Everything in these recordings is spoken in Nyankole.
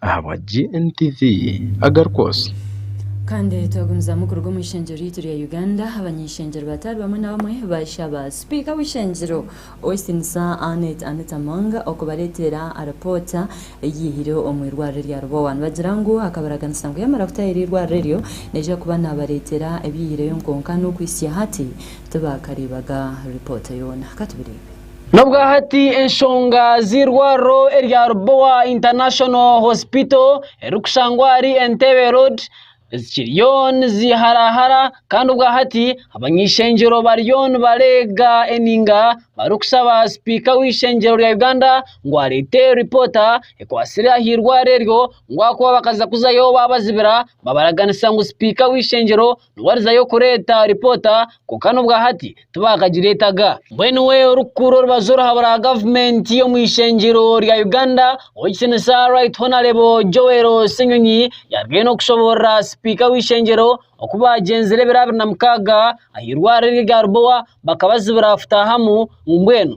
ahabwa GNTV Agar Kwosi. Kandi twagumizamu kuruga omu ishengyero ryaitu rya Uganda, abany'eishengyero bataari bamwe na bamwe baashaba sipiika w'eishengyero Ow'ekitinisa Annet Annet Among okubareeteera aripoota eyiihire omu irwariro erya Lubowa nibagira ngu akabaraganisa ngu yamara kutaaha eri irwariro eryo naija kuba naabareeteera ebyiihireyo nkonka n'okuhitsya hati tibakareebaga ripoota yoona. Ka tubireebe. N'obwahati enshonga z'eirwariro erya Lubowa International Hospital erikushangwa ahari Entebbe Road zikiriyo niziharahara kandi obwahati abany'eishengyero bariyo nibareega eninga barikushaba sipiika w'eishengyero rya Uganda ngu areete ripoota ekwatsire aha irwariro eryo ngu ahakuba bakaza kuzayo baabazibira babaraganisa ngu sipiika w'eishengyero Warizayo kureeta ripoota kwonka n'obwahati tibakagireetaga. Mbwenu we orikukuura orubaju orahabura gavumenti omu ishengyero rya Uganda ow'ekitinisa Right Honarebo Joel Ssenyonyi yaarugayo n'okushoboorora sipiika w'ishengyero oku baagyenzire ebiro abiri na mukaaga aha irwariro erya Rubowa bakabazibira futahamu ngu mbwenu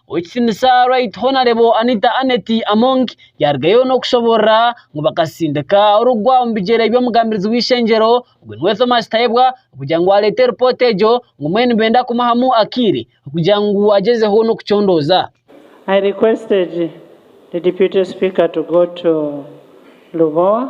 Ow'ekitinisa Right Honourable Anita Annet Among yaarugayo n'okushoboorora ngu bakasindika orugwa omu bigyere by'omugambirizi w'eishengyero ogwo niwe Thomas Tayebwa kugira ngu areete ripoota egyo ngu mbwenu nibenda kumuhamu akaire kugira ngu agyezeho n'okucondooza. I requested the deputy speaker to go to Lubowa.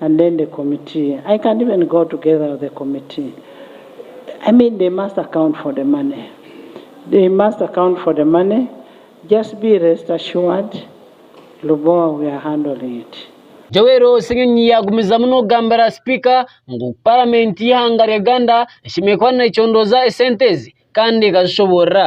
and then the committee I can't even go together with the committee I mean they must account for the money they must account for the money just be rest assured Lubowa we are handling it. Joel Ssenyonyi yagumizamu n'okugambira sipiika ngu paramenti y'eihanga rya Uganda eshemereire kuba necondooza esente ezi kandi ekazishoboorora.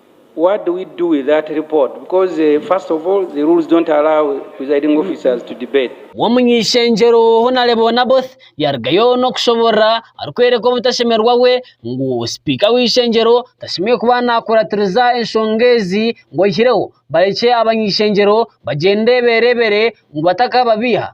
What do we do with that report because first of all the rules don't allow presiding officers to debate. W'omuny'ishengyero Honarebo Onaboth yarugayo n'okushoborora arikwereka obutashemerwa bwe ngu sipiika w'eishengyero tashemereire kuba nakuratiriza enshonga ezi ngu aihireho barekye abany'ishengyero bagyende berebere ngu batakababeiha.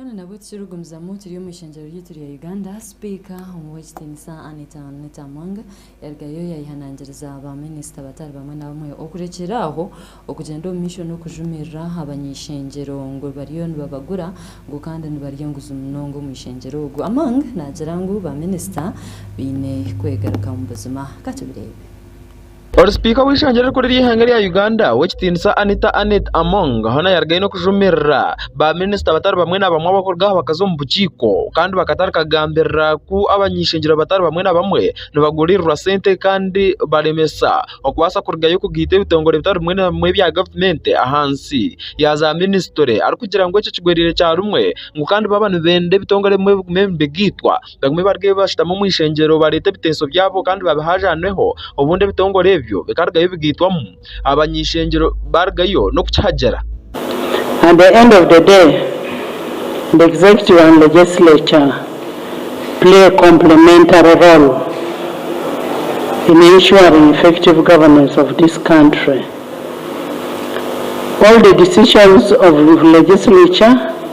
Kandi nabwe tikirikugumizamu kiri omu ishengyero ryaitu rya Uganda, sipiika Ow'ekitiinisa Annet Annet Among yarugayo yaihanangiriza ba minisita batari bamwe na bamwe okurekyera aho okugyenda omu maisho n'okujumirira abany'eishengyero ngu bariyo nibabagura ngu kandi nibarya enguzi munonga omu ishengyero ogu Among nagira ngu ba minisita baine kwegaruka mu buzima. Ka tubireebe. Ori sipiika w'eishengyero erikuru ery'eihanga rya Uganda ow'ekitiinisa Anita Annet Among hoona yarugayo n'okujumirira ba minisita batari bamwe na bamwe abarikuruga aha bakazi omu bukiiko kandi bakatarika kugambirira ku abany'eishengyero batari bamwe na bamwe nibagurirwa sente kandi baremesa okubaasa kurugayo kugaita ebitongore bitari bimwe na bimwe ebya gavumenti ahansi ya za minisitule arikugira ngu ekyo kigwereire kya rumwe ngu kandi baaba nibenda ebitongore ebimwe bigume nibigaitwa. bamwe baruge bashutame omu ishengyero bareete ebiteeso byabo kandi babihaajaneho obundi ebitongore ebyo bikarugayo bigaitwamu abany'ishengyero barugayo n'okukihagira. At the end of the day, the executive and legislature play a complementary role in ensuring effective governance of this country. All the decisions of legislature,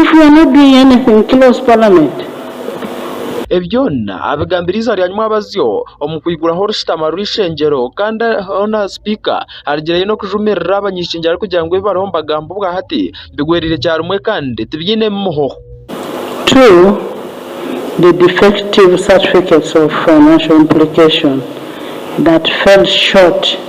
If we are not doing anything close parliament. Ebi byona abigambire eiziba rya Nyumwabazyo omu kwiguraho orushutama rw'eishengyero kandi hoona sipiika arigireyo n'okujumirira abanyeshengyero arikugira ngu ebi bariho nibagamba obwa hati bigwereire kyarimwe kandi tibyinemu muhoho. To the defective certificates of financial implication that fell short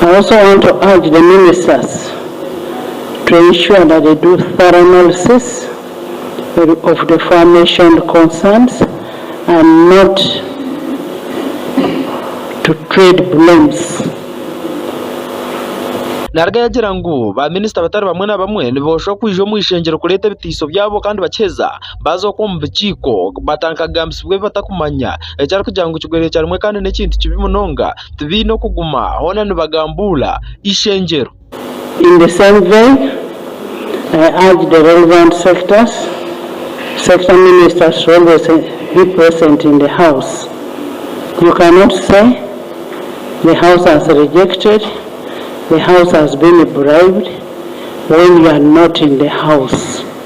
I also want to urge the ministers to ensure that they do thorough analysis of the forementioned concerns and not to trade blames. Nariga yagira ngu baaminisita batari bamwe na bamwe niboosha okwija omu ishengyero kureeta ebitaiso byabo kandi bakiheza baaza okwo omu bukiiko batankagambisibwa ebi batakumanya, ekyarikugira ngu kigwerekyera rimwe kandi n'ekintu kibi munonga, tibaine okuguma hoona nibagambuula ishengyero. In the same vein, I urge the relevant sectors, sector ministers to always be present in the house. You cannot say the house has rejected, the house has been bribed when you are not in the house.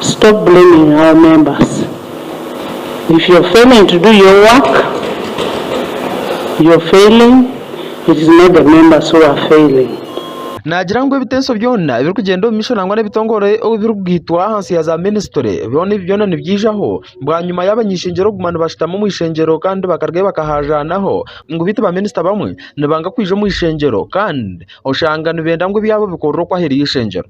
stop blaming our members if you're failing to do your work you're failing it is not the members who are failing. Naagira ngu ebiteeso byona ebirikugyenda omu maisho nangwa n'ebitongore ou birikugaitwa ahansi ya za minisitule byona ebi byona nibyijaho bwanyima y'abany'eishengyero kuguma nibashutama omu ishengyero kandi bakarugayo bakahaazaanaho ngu beitu baminisita bamwe nibanga kwija omu ishengyero kandi oshanga nibenda ngu ebyabo bikorerwe okwo aheeru y'eishengyero.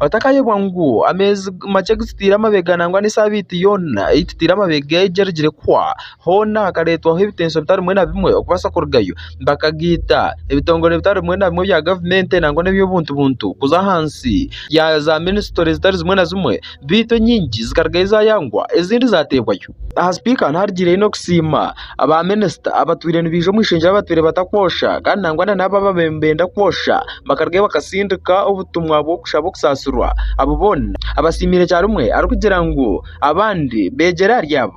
Otakayebwa ngu ameezi makye gututaire amabega nangwa n'esaabiiti yoona ei tutaire amabega egyo erugire kuhwa, hoona hakareetwaho ebitenso bitari bimwe na bimwe okubaasa kurugayo. Bakageita ebitongore bitari bimwe na bimwe ebya gavumenti nangwa n'eby'obuntu buntu kuza ahansi ya zaaminisitule zitari zimwe na zimwe beitu enyingi zikarugayo zaayangwa ezindi zaateebwayo. Aha sipiika hanu harigiireyo n'okusiima aba minisita abatwire nibaija omu ishengero abatwire batakwosha kandi nangwa na n'abo abaabaire nibenda kwosha bakarugayo bakatsindika obutumwa bw'okushaba okusaasirwa. Abo boona abasiimiire kyarumwe arikugira ngu abandi beegyere ahari abo.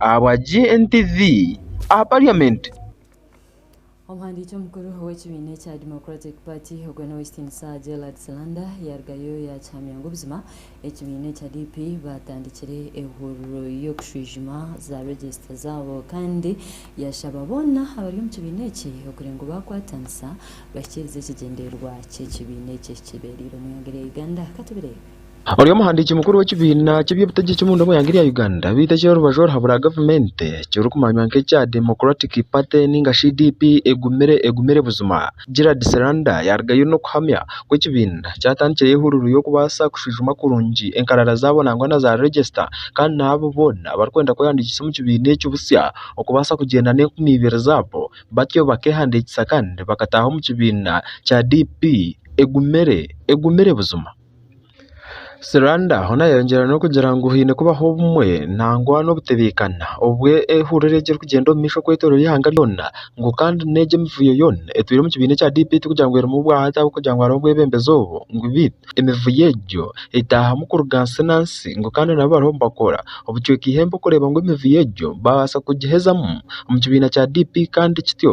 Ahabwa GNTV aha parliament. Omuhandiiki omukuru w'ekibiina ekya Democratic Party, ogwo n'Ow'ekitiinisa Sir Gerald Silanda, yaarugayo yaakihamya ngu buzima ekibiina ekya DP baatandikire ehuriro y'okushwijuma za regisita zaabo kandi yaashaba boona abari omu kibiina eki okugira ngu baakwatanisa bahikiirize ekigyendererwa ky'ekibiina eki ekibeereire omu ihanga erya Uganda. Ka tubireebe. Ori omuhandiiki mukuru w'ekibiina ky'eby'obutegyeki omunda omu ihanga erya Uganda beitu ekiri orubaju oru ahabura gavumenti ekirikumanywa nk'ekya Democratic Party ninga shi DP egumire egumire buzima. Gerald Seranda yarugayo n'okuhamya ku ekibiina kyatandikireyo ehururu y'okubaasa kushwijuma kurungi enkarara zaabo nangwa na za regista kandi na abo boona abarikwenda kwehandiikisa omu kibiina ekyo butsya okubaasa kugyenda n'enkumi ibiri zaabo batyo bakehandiikisa kandi bakataaha omu kibiina kya DP egumire egumire buzima. Siranda hoona yayongyera n'okugira ngu haine kubaho obumwe nangwa n'obutebeekana obu ehurira egi erikugyenda omu maisho kwetooroora eihanga ryona ngu kandi n'egi emivuyo yoona etwire omu kibiina ekya DP tikugira ngu erimu bwa hati ahabw'okugira ngu hariho obwebembezi obu ngu beitu emivuyo egyo etaahamu kuruga nsi na nsi ngu kandi nabo bariho nibakora obucweka eihembe kureeba ngu emivuyo egyo baabaasa kugihezamu omu kibiina kya DP kandi kityo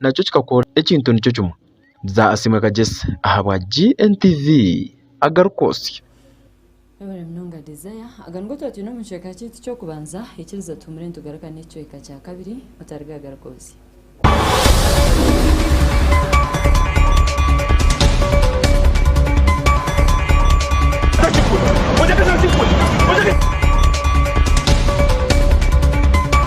nakyo kikakora ekintu nikyo kimwe. Bza Asiimwe Kagyesi ahabwa GNTV agarikwotsya. Webare munonga Desire. Aga nigo tuba twine omu kicweka kyaitu ky'okubanza. Ikiriza tuhumure nitugaruka n'ekicweka kya kabiri. Otarega garuka oze.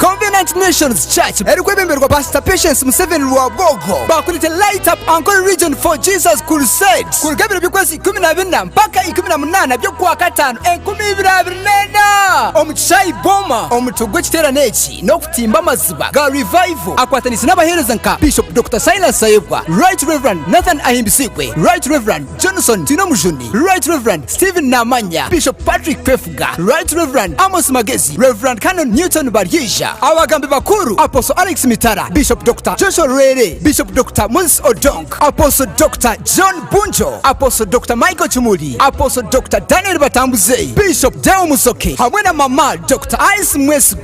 Covenant Nations Church erikwebemberwa Pastor Patience Museveni Rwagogo bakurete Light Up Ankole Region for Jesus Crusade kuruga ebiro by'okwezi ikumi na bina mpaka ikumi na munaana by'okwa kataano enkumi ibiri abiri n'ena omu kishaayi Boma. Omutwe gw'ekiteerane eki n'okutimba amaziba ga Revival akwatanise n'abaheereza nka Bishop Doctor Silas Sayebwa, Right Rev Nathan Ahimbisiibwe, Right Rev Johnson Twinomujuni, Right Rev Stephen Namanya, Bishop Patrick Kwefu, Nyarurenga, Right Rev. Amos Magezi, Rev. Canon Newton Baryeija, Abagambi Bakuru, Apostle Alex Mitara, Bishop Doctor Joshua Lwere, Bishop Doctor Moses Odong, Apostle Doctor John Bunjo, Apostle Doctor Michael Kimuli, Apostle Doctor Daniel Batambuze, Bishop Deo Musoke hamwe na Mama Doctor Alice Mwesigwa.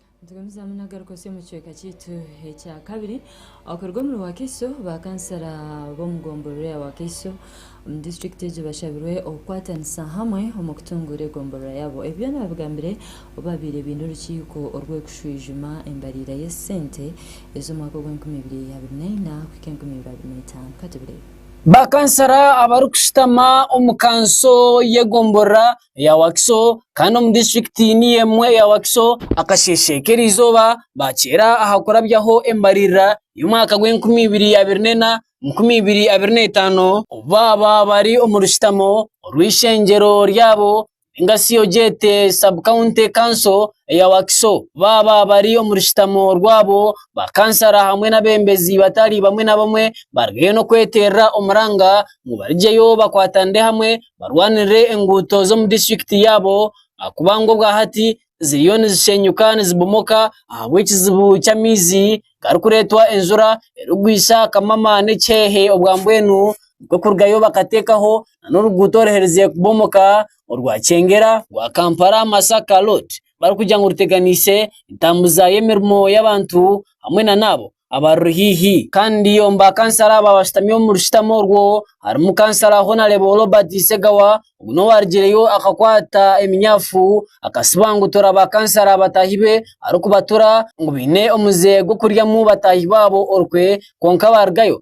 Nitugumizamu nagaruka osya omu kicweka kyaitu ekya kabiri okuruga omuri Wakiso. Ba kansara b'omu gomborora ya Wakiso omu disiturikiti egyo bashabirwe okukwatanisa hamwe omu kutunguura egomborora yaabo. Ebi byoona babigambire obu babaire baine orukiiko orw'okushwijuma embariira y'esente ez'omwaka ogw'enkumi ibiri abiri na ina kuhika enkumi ibiri abiri na itaano. Katubireebe. Ba kansara abarikushutama omu kanso y'egomborora eya Wakiso kandi omu disiturikiti niyo emwe eya Wakiso akasheeshe k'erizooba bakyeera aha kurabyaho embaririra y'omwaka gw'enkumi ibiri abiri n'ena enkumi ibiri abiri n'etaano obu baaba bari omu rushutamo orw'eishengyero ryabo ninga shi ogyete sabu kawunti kanso eya Wakiso baaba bari omu rushutamo rwabo ba kansara hamwe n'abeebembezi batari bamwe na bamwe bariyo nibakweterera omuranga ngu barugyeyo bakwatanire hamwe. barwanirire enguuto z'omu disiturikiti yaabo ahakuba ngu obwa hati ziriyo nizisheenyuka nizibomoka ahabw'ekizibu ky'amaizi garikureetwa enjura erikugwisa kamama n'ekiheehe obwa mbwenu nikwo kurugayo bakateekaho n'oruguuto oruherize kubomoka orwa Kyengera, rwa Kampala Masaka road barikugira ngu ruteganiise entambuza y'emirimo y'abantu hamwe na n'abo abaruri haihi. Kandi omu ba kansara aba abashutami omuri rushutamo orwo harimu kansara honarebo Robert Segawa ogu n'owarugireyo akakwata eminyafu akasibangutura ba kansara bataahi be arikubatura ngu baine omuze gw'okuryamu bataahi baabo orukwe kwonka baarugayo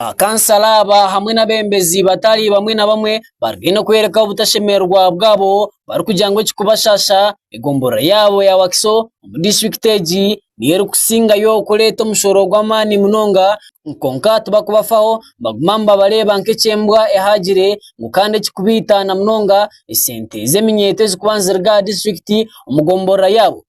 Bakansala aba hamwe n'abeebembezi batari bamwe na bamwe bari haihi n'okworeka obutashemererwa bwabo barikugira ngu ekirikubashaasha egomborora yaabo ya Wakiso omu disiturikiti egi niyo erikusingayo kureeta omushooro gw'amaani munonga kwonka tibarikubafaho nibaguma nibabareeba nk'eky'embwa ehaagire ngu kandi ekirikubaitaana munonga esente z'eminyeeto ezirikuba niziri aha disiturikiti omu gomborora yaabo.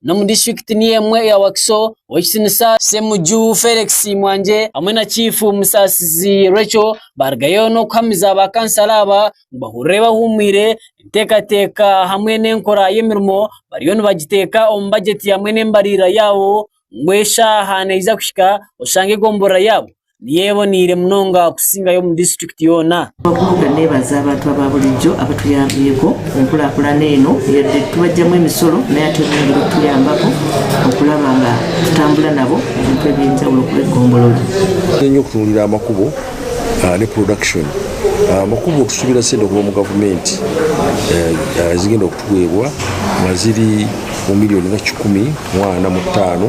Ni omu disiturikiti niyo emwe eya Wakiso, ow'ekitinisa Ssemuju Felix Mwangye hamwe na Chiifu Musasizi Recho baarugayo n'okuhamiza ba kansala aba ngu bahurire bahuumwire enteekateeka hamwe n'enkora y'emirimo bariyo nibagiteeka omu bagyeti hamwe n'embaririra yaabo ngu eshaaha neeza kuhika oshange egomboloora yaabo. niyo eboneire munonga kusingayo omu disiturikiti yoona. Ahabw'okuba neebaza abantu aba buriijo abatuyaambireho enkurakurana eno yaabaire titubagyamu emisoro nayo ati eboneire kutuyambaho okuraba nga tutambura nabo omu bintu eby'enjawulo kureeba egombolola. Nituteera okutungira amakubo ne purodakishoni amakubo tusuubira sente kuva omu gavumenti ezigenda kutuweebwa nga ziri omu miriyoni kikumi mwana mu taano.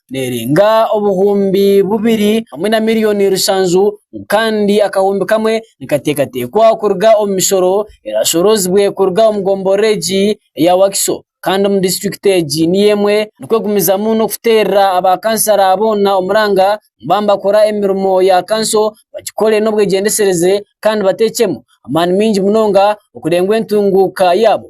nerenga obuhumbi bubiri hamwe na miriyoni rushanju kandi akahumbi kamwe nikateekateekwa kuruga omu mishooro erashoroozibwe kuruga omu gomborora egi eya Wakiso kandi omu disiturikiti egi niyo emwe erikwegumizamu n'okuteerera aba kansara boona omuranga kuba nibakora emirimo ya kanso bagikore n'obwegyendetsereze kandi bateekyemu amaani maingi munonga okurenga entunguuka yaabo.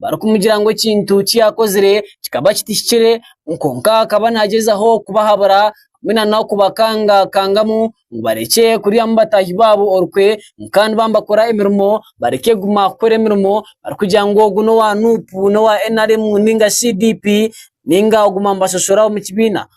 barikumugira ngu ekintu eki yaakozire kikaba kitahikire kwonka akaba nagyezaho kubahabura hamwe nana okubakangakangamu ngu barekye kuryamu bataahi baabo orukwe kandi baaba nibakora emirimo bareke kuguma kukora emirimo barikugira ngu ogu n'owa nup n'owa nrm ninga CDP ninga kuguma nibashoshora omu kibiina.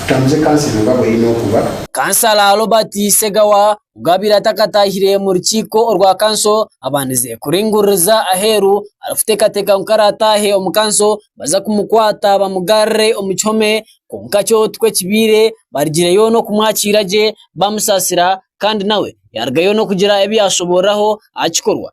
Tutamuze kansa eno nga bw'eine okuba. Kansala Robert Segawa ogu abaire atakataahire mu rukiiko orwa kanso abandize kuringuririza aheeru arikuteekateeka ngu ku araataahe omu kanso nibaza kumukwata bamugarure omu kihome kwonka kyo tikwo kibaire barigireyo n'okumwakiira gye bamusaasira kandi nawe yaarugayo n'okugira ebi yaashoboorora aha kikorwa.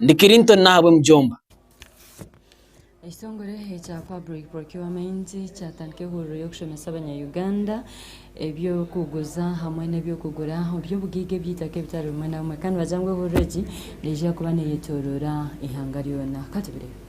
Ndi Clinton n'ahabwe Mujomba. Ekitongore ekya Public Procurement kyatandika ehuriro y'okushomesa abanyayuganda eby'okuguza hamwe n'eby'okugura oby'obugaiga eby'eitaka ebitari bimwe na bimwe kandi bagira ngu ehuriro egi neija kuba neyetoroora eihanga ryona. Katubirebe.